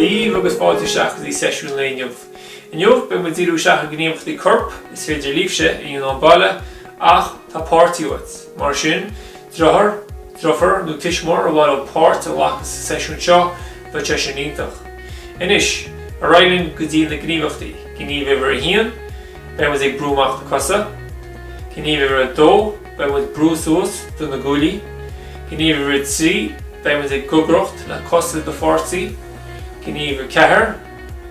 Dia daoibh agus fáilte isteach i seisiún lae inniu. Inniu beidh muid ag díriú isteach ar gníomhachtaí coirp is féidir libhse a dhéanamh sa mbaile ach tá páirtí uait. Mar sin, deartháir, deirfiúr nó tuismitheoir ar mhaith leo páirt a ghlacadh sa seisiún seo, beidh sé sin iontach. Anois, ar aghaidh linn go dtí na gníomhachtaí. Gníomh uimhir a haon, beidh muid ag brú amach na cosa. Gníomh uimhir a dó. Beidh muid ag brú suas de na guaillí. Gníomh uimhir a trí, beidh muid ag gogaireacht le cosa do pháirtí. Gníomh a ceathair,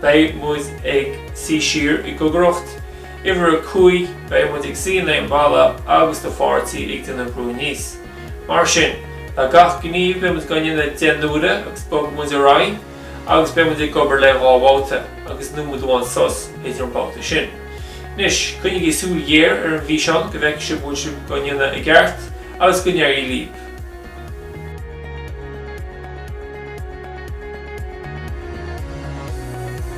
beidh muid ag suí siar i ngogaireacht. Uimhir a cúig, beidh muid ag suí in éadan balla agus do pháirtí ag déanamh brú aníos. Mar sin, le gach gníomh beidh muid á dhéanamh deich n-uaire agus bogfaidh muid ar aghaidh. agus beidh muid ag obair le dhá bhabhta agus nóiméad amháin sos idir na babhtaí sin. Anois, coinnigí súil ghéar ar an bhfíseán go bhfeicfidh sibh go bhfuil sibh á ndéanamh i gceart agus go n-éirí libh!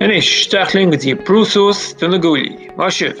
Anois, isteach linn go dtí brú suas de na guaillí, maith sibh!